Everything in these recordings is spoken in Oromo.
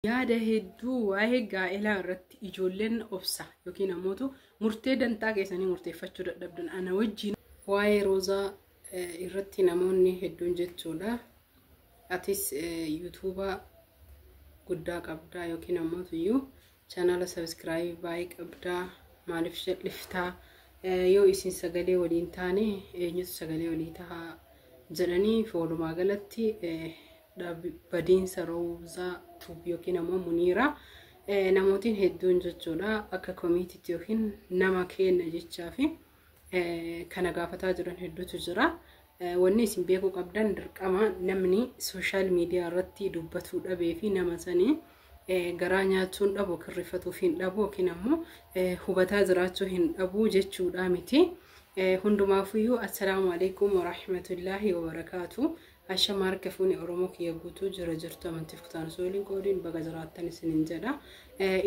Yaada hedduu waa'ee gaa'elaa irratti ijoolleen obsa yookiin ammoo murtee dantaa keessanii murteeffachuu dadhabdan ana wajjin. Waa'ee Roozaa eh, irratti namoonni hedduun jechuudha. Atis eh, yuutuuba guddaa qabdaa yookiin ammoo tuyyuu chaanaala sabiskiraayib baay'ee qabdaa maaliif jal'iftaa Eh, yoo isin sagalee waliin taane eenyutu sagalee walii tahaa jedhanii walumaa galatti eh, badiinsa Roozaa Tuub yookiin ammoo Muniiraa namootiin hedduun jechuudha akka komiitiitti yookiin nama keenna jechaa fi kana gaafataa jiran hedduutu jira. Wanni isin beekuu qabdan dirqama namni sooshaal miidiyaa irratti dubbatuu dhabee fi nama sanii garaa nyaachuun dhabu yookiin rifatuuf hin dhabu yookiin ammoo hubataa jiraachuu hin dhabu jechuudha miti. Hundumaafuyyuu assalaamu alaikum warahmatullaahi wabarakaatu. Ashama harka fuune Oromoo kiyya guutuu jira jirtu amantiif kutaan osoo waliin qoodiin baga jiraattan isinin jedha.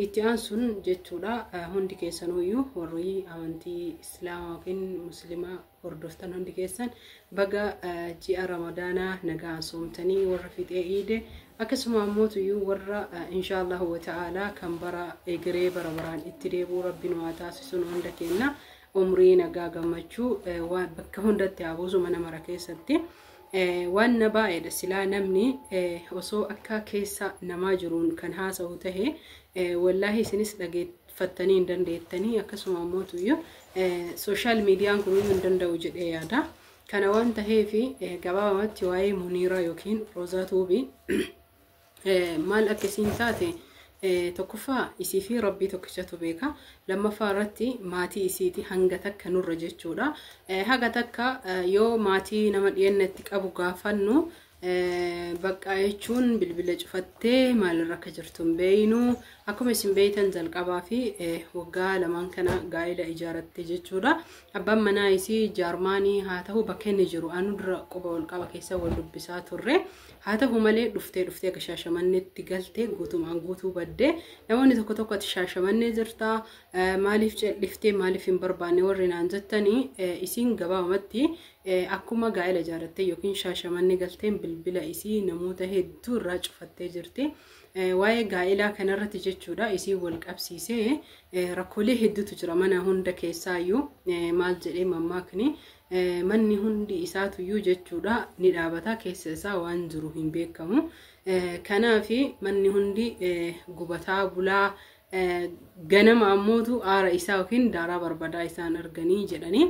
Itti aansuun jechuudha hundi keessanuyyuu warri amantii Islaamaa yookiin Muslimaa hordoftan hundi keessan baga ji'a Ramadaanaa nagaan soomtanii warra fixee iide akkasuma ammoo tuyyuu warra inshaallahu wa ta'aalaa kan bara egeree bara baraan itti deebi'u rabbi nu haa taasisu nu hunda keenna. umrii nagaa gammachuu waan bakka hundatti haa buusu mana mara keessatti. Waan na baay'eedha silaa namni osoo akka keessa namaa jiruun kan haasa'u tahe wallaahi isinis dhageeffattanii hin dandeettanii akkasuma ammoo tuyyu sooshaal miidiyaan kun hin danda'u jedhee yaada. Kana waan taheef gabaabamatti waa'ee Muniiraa yookiin Roozaa Tuubii maal akka isiin taate tokkoffaa isii fi rabbii tokkichatu beeka lammaffaa irratti maatii isiiti hanga takka nurra jechuudha haga takka yoo maatii nama dhiyenna itti qabu gaafannu baqqaa jechuun bilbila cufattee maalirra akka jirtu hin beeynu akkuma isin beeytan jalqabaa fi waggaa lamaan kana gaa'ila ijaaratte jechuudha abbaan manaa isii jaarmaanii haa ta'u bakka inni jiru anu dura quba wal qaba keessa wal dubbisaa turre Haa tahu malee dhuftee dhuftee akka Shaashamanneetti galte guutumaan guutuu badde. Namoonni tokko tokko ati Shaashamannee jirta maaliif cal'iftee maaliif hin barbaanne warri naan jettanii isiin gabaabumatti akkuma gaa'ela ijaarrattee yookiin Shaashamannee galteen bilbila isii namoota hedduu irraa cufattee jirti. Waa'ee gaa'elaa kanarratti jechuudha isii wal qabsiisee rakkoolee hedduutu jira mana hunda keessaayyuu maal jedhee mammaakni Manni hundi isaatuyyuu jechuudha ni dhaabata keessa isaa waan jiru hin beekamu. Kanaaf manni hundi gubataa bulaa ganama ammootu aara isaa yookiin daaraa barbadaa isaan arganii jedhanii.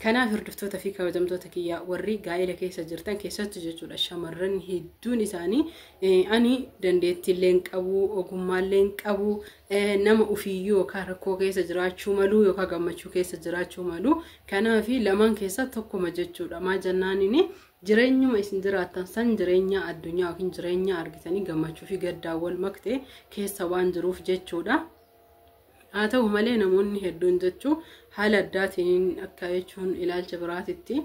Kanaaf hordoftoota fi kabajamtoota kiyyaa warri gaa'ela keessa jirtan keessattu jechuudha shamarran hedduun isaanii ani dandeettiillee hin qabu ogummaallee hin qabu nama ufiiyyuu yookaan rakkoo keessa jiraachuu maluu yookaan gammachuu keessa jiraachuu maluu kanaaf lamaan keessaa tokkuma jechuudha maa jennaanin jireenyuma isin jiraattan san jireenya addunyaa yookiin jireenya argitanii gammachuu fi gaddaa wal makte keessa waan jiruuf jechuudha. Haa ta'u malee namoonni hedduun jechuu haala addaatiin akka jechuun ilaalcha biraatitti.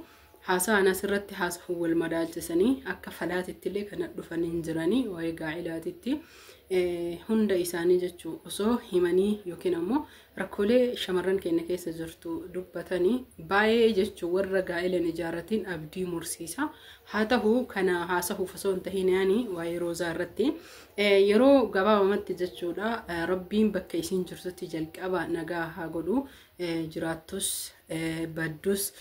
Haasawa ani asirratti haasahu wal madaalchisanii akka falaatittillee kan dhufan hin jirani waa'ee gaa'ilaatitti hunda isaanii jechuu osoo himanii yookiin ammoo rakkoolee shamarran keenya keessa jirtu dubbatanii baay'ee jechuu warra gaa'ilan ijaarratiin abdii mursiisa haa ta'u kana haasahuuf osoo hin tahin yaani waa'ee roozaa irratti yeroo gabaabamatti jechuudha rabbiin bakka isiin jirtutti jalqaba nagaa haa godhu jiraattus baddus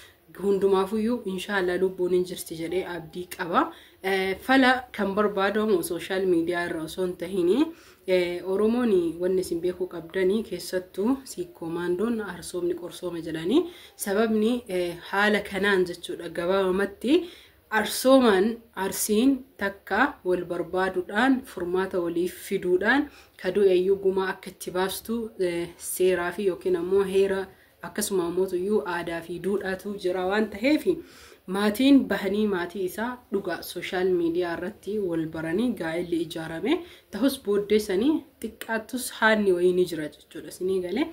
Hundumaafuyyuu inshaallaa lubbuun hin jirti jedhee abdii qaba. Fala kan barbaadamu sooshaal miidiyaa irra osoo hin tahini Oromoon wanni isin beekuu qabdanii keessattuu siikoomaandoon arsoomni qorsooma jedhanii sababni haala kanaan jechuudha gabaabamatti arsoomaan arsiin takka wal barbaaduudhaan furmaata waliif fiduudhaan kadu'eeyyuu gumaa akka itti baastu seeraa fi yookiin ammoo heera akkasuma ammoo iyyuu aadaa fi duudhaatu jira waan taheef maatiin bahanii maatii isaa dhugaa sooshaal miidiyaa irratti wal baranii gaa'elli ijaarame tahus booddee sanii xiqqaattus haanni wayii ni jira jechuudha sinii galee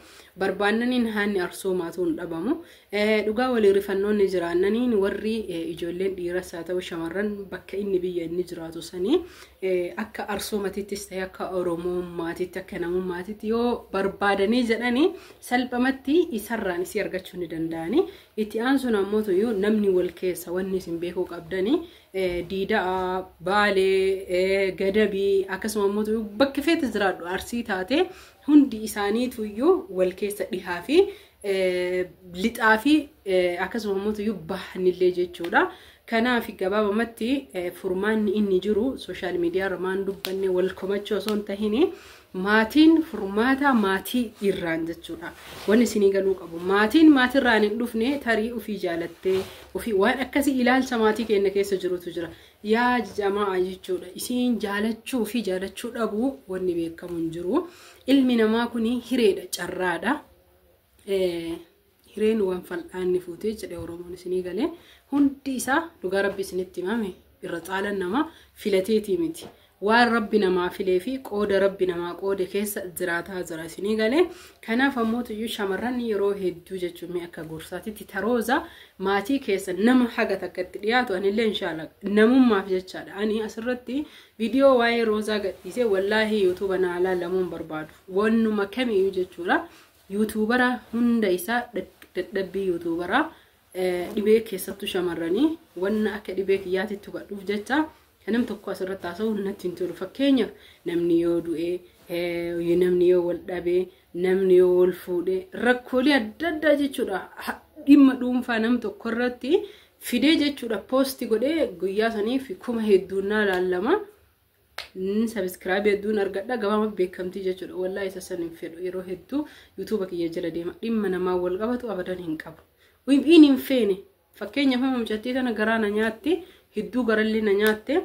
barbaannaniin haanni arsoomaatu hin dhabamu dhugaa walii rifannoonni jiraannaniin warri ijoolleen dhiiras haa ta'u shamarran bakka inni biyya inni jiraatu sanii akka arsoomatittis ta'e akka oromoo maatitti akka namummaatitti yoo barbaadanii jedhanii salphamatti isarraan isii argachuu ni danda'ani. Itti aansuun ammoo tuyyuu namni wal keessa wanni isin beekuu qabdani diida'a, baalee, gadabii akkasuma ammoo tuyyuu bakki feete jiraadhu arsii taate hundi isaanii tuyyuu wal keessa dhihaa fi lixaa fi akkasuma ammoo tuyyuu bahanillee jechuudha. Kanaaf gabaabamatti furmaanni inni jiru sooshaal miidiyaarra maan dubbanne wal komachuu osoo hin tahini Maatiin furmaataa maatii irraan jechuudha. Wanni isinii galuu qabu. Maatiin maatii irraan hin dhufne tarii ofii jaalattee ofii waan akkasii ilaalcha maatii keenya keessa jirutu jira. Yaa jamaa jechuudha. Isiin jaalachuu fi jaalachuu dhabuu wanni beekamu hin jiru. Ilmi namaa kun hireedha, carraadha. Hireen waan fal'aa inni fuute jedhe Oromoon isinii galee hundi isaa dhugaa rabbi isinitti himame irra caalan namaa filateetii miti. Waan rabbi namaa filee fi qooda rabbi namaa qoode keessa jiraataa jira isinii galee. Kanaaf ammoo tuyyuu shamarran yeroo hedduu jechuun mee akka gorsaatitti tarooza maatii keessa nama haga takka itti dhiyaatu anillee inshaalla namummaaf jechaadha. Ani asirratti viidiyoo waa'ee roozaa gadhiisee wallaahi yuutuuba naa laalamuun barbaadu. Wannuma kamiyyuu jechuudha. Yuutuubara hunda isaa dadhabbii yuutuubara dhibee keessattu shamarranii wanna akka dhibee kiyyaatitti hubadhuuf jecha kanam tokko asirratti haasa'uun natti hin tolu fakkeenyaaf namni yoo du'e namni yoo wal dhabe namni yoo wal fuudhe rakkoolee adda addaa jechuudha dhimma dhuunfaa nam tokko irratti fidee jechuudha poosti godhee guyyaa saniif kuma hedduunnaa laallama. sabiskiraabii hedduun argadha gabaama beekamtii jechuudha wallaahi isa san hin fedhu yeroo hedduu yuutuuba kiyya jala deema dhimma namaa wal qabatu abadan hin qabu wim'iin hin feene fakkeenyaaf amma mucattii tana garaa na nyaatte hedduu garallee na nyaatte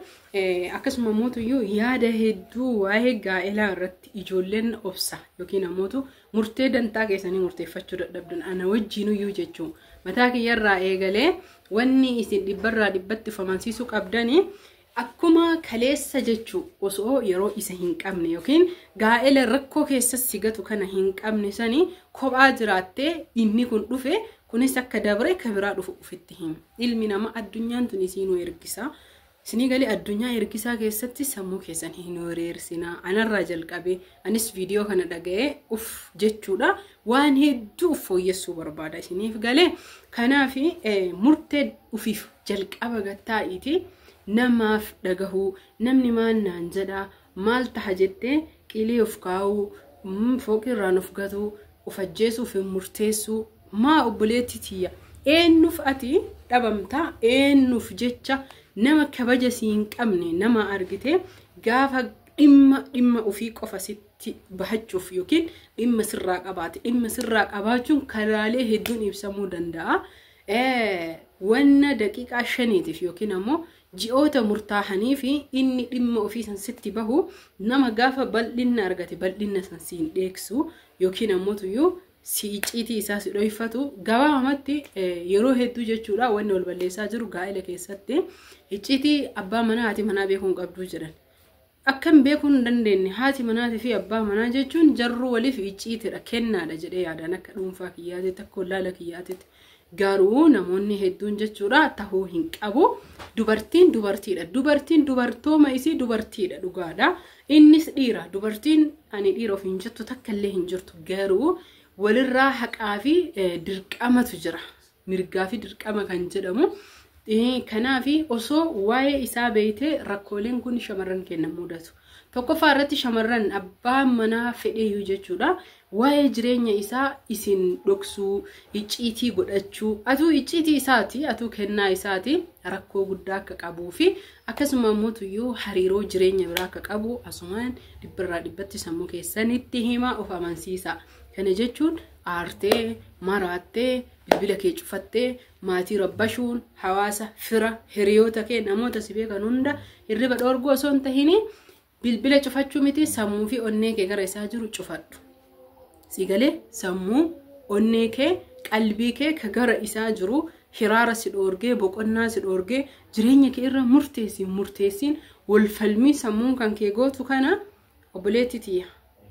akkasuma mootuyyuu yaada hedduu waa'ee gaa'elaa irratti ijoolleen obsa yookiin ammootu murtee dantaa keessanii murteeffachuu dadhabdan ana wajjiinuyyuu jechuu mataa kiyyarraa eegalee wanni isin dhibbarraa dhibbatti of amansiisuu qabdanii Akkuma kaleessa jechu osoo yeroo isa hin qabne yookiin gaa'ela rakkoo keessa si gatu kana hin qabne sani kophaa jiraattee inni kun dhufe kunis akka dabre ka biraa dhufu ufitti him. Ilmi nama addunyaan tun isiinuu ergisa. Isinii galee addunyaa ergisaa keessatti sammuu keessan hin wereersinaa. Anarraa jalqabee Anis viidiyoo kana dhaga'ee uf jechuudha waan hedduu uf fooyyessuu barbaada isiniif galee kanaaf murtee ufiif jalqaba gattaa'iiti namaaf dhagahuu namni maal naan jedha maal taha jettee qilii of kaa'uu fooqirraan of gatuu of ajjeesuuf hin murteessuu maa obboleetti tiyya eennuuf ati dhabamtaa eennuuf jecha nama kabaja si hin qabne nama argite gaafa dhimma dhimma ofii qofa sitti bahachuuf yookiin dhimma sirraa qabaate dhimma sirraa qabaachuun karaalee hedduun ibsamuu danda'a. Wanna daqiiqaa shaniitiif yookiin ammoo ji'oota murtaa'anii fi inni dhimma ofii san sitti bahu nama gaafa bal'inna argate bal'inna san siin dheeksu yookiin ammoo tuyyuu si icciitii isaa si dhoyfatu gabaabamatti yeroo hedduu jechuudha wanni wal balleessaa jiru gaa'ela keessatti icciitii abbaa manaa haati manaa beekuu hin qabduu jedhan. Akkan beekuu hin dandeenye haati manaatii fi abbaa manaa jechuun jarruu waliif icciitidha kennaadha jedhee yaadaan akka dhuunfaa kiyyaatitti akka wallaala kiyyaatitti garuu namoonni hedduun jechuudha tahuu hin qabu dubartiin dubartiidha dubartiin dubartooma isii dubartiidha dhugaadha innis dhiira dubartiin ani dhiira of hin jettu takka illee hin jirtu garuu walirraa haqaa fi dirqamatu jira mirgaa fi dirqama kan jedhamu. Kanaaf osoo waa'ee isaa beeytee rakkooleen kun shamarran keenya mudatu. Tokkoffaa irratti shamarran abbaa manaa fedheeyyuu jechuudha. Waa'ee jireenya isaa isin dhoksuu, icciitii godhachuu, atuu icciitii isaati, atuu kennaa isaati rakkoo guddaa akka qabuu fi akkasuma immoo tuyyuu hariiroo jireenya biraa akka qabu asumaan dhibbarraa dhibbatti sammuu keessanitti hima of amansiisa. Kana jechuun aartee, maraattee, bilbila kee cufattee, maatii rabbashuun, hawaasa, fira, hiriyoota kee, namoota si beekan hunda hirriba dhoorguu osoo hin tahin bilbila cufachuu miti sammuu fi onnee kee gara isaa jiru cufadhu. Si galee sammuu, onnee kee, qalbii kee ka gara isaa jiru hiraara si dhoorgee, boqonnaa si dhoorgee, jireenya kee irra murteessiin murteessiin wal falmii sammuun kan kee gootu kana Obboleetti tiyya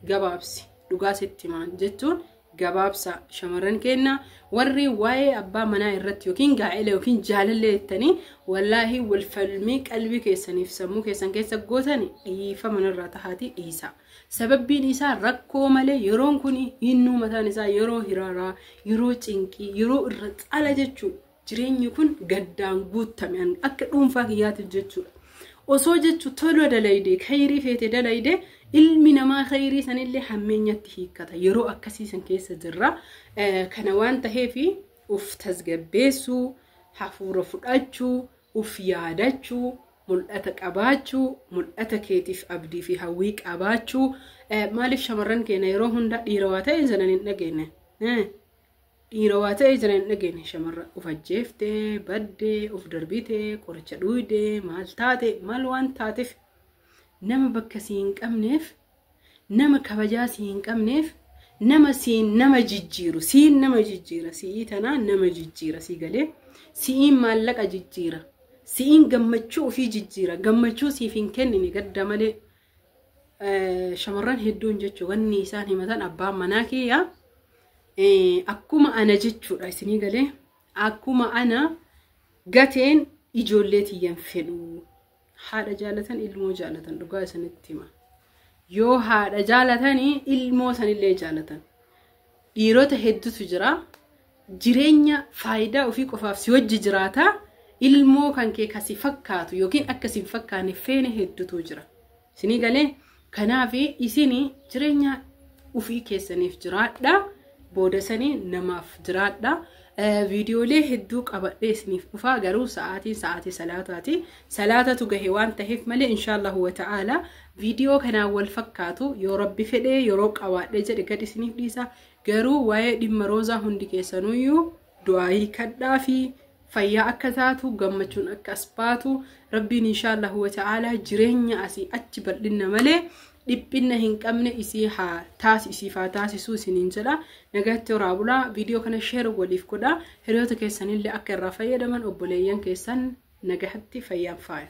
gabaabsi dhugaa sitti himaan jechuun gabaabsa shamarran keenya warri waa'ee abbaa manaa irratti yookiin gaa'ela yookiin jaalallee jettanii wallaahi wal falmii qalbii keessaniif sammuu keessan keessa gootan dhiifa manarraa tahaatii dhiisa. Sababbiin isaa rakkoo malee yeroon kun hinnuu mataan isaa yeroo hiraaraa, yeroo cinqii, yeroo irra cala jechuudha. Jireenyi kun gaddaan guuttame an akka dhuunfaa kiyyaatiif jechuudha. Osoo jechu tola dalayde kayrii feete dalayde ilmi namaa kayrii sanillee hammeenyatti hiikkata. Yeroo akkasii san keessa jirra. Eh, Kana waan taheef uf tasgabbeessuu, hafuura fudhachuu, uf yaadachuu, mul'ata qabaachuu, mul'ata keetiif abdii fi hawwii qabaachuu. Eh, Maaliif shamarran keenya yeroo hunda dhiira waa ta'e janan hin dhageenne? Eh, Dhiira waa ta'ee jira hin dhageene shamarra of ajjeefte badde of darbite qoricha dhuuyde maal taate maal waan taateef nama bakka si hin qabneef nama kabajaa si hin qabneef nama siin nama jijjiiru siin nama jijjiira si'ii tanaa nama jijjiira si galee si'iin maallaqa jijjiira si'iin gammachuu ofii jijjiira gammachuu siif hin kennine gadda malee Shamarran hedduun jechuun wanni isaan himatan abbaan manaa kiyya akkuma ana jechuudha isinii galee akkuma ana gateen ijoollee tiyyan fedhu haadha jaalatan ilmoo jaalatan dhugaa isinitti hima yoo haadha jaalatanii ilmoo sanillee jaalatan Dhiirota heddutu jira jireenya faayidaa ofii qofaaf si wajji jiraata ilmoo kan kee ka si fakkaatu yookiin akka si hin fakkaanne feene heddutu jira. Isinii galee kanaaf isin jireenya ofii keessaniif jiraadha booda sanii namaaf jiraadha. Viidiyoolee hedduu qabadhee isiniif dhufaa garuu sa'aatiin sa'aatii salaataati. Salaatatu gahe waan taheef malee inshaallahu wa ta'aala viidiyoo kanaan wal fakkaatu yoo rabbi fedhee yeroo qabaadhee jedhe gad isiniif dhiisa. Garuu waa'ee dhimma roozaa hundi keessanuyyuu du'aayii kadhaa fi fayyaa akka taatu gammachuun akka as baatu rabbiin inshaallahu wa ta'aala jireenya asii achi bal'inna malee dhiphinna hin qabne isii haa taas isiif haa taasisuu isiniin jedha nagaatti horaa bulaa viidiyoo kana sheer waliif godha hiriyoota keessanillee akka irraa fayyadaman obboleeyyan keessan nagahatti fayyaan faaya.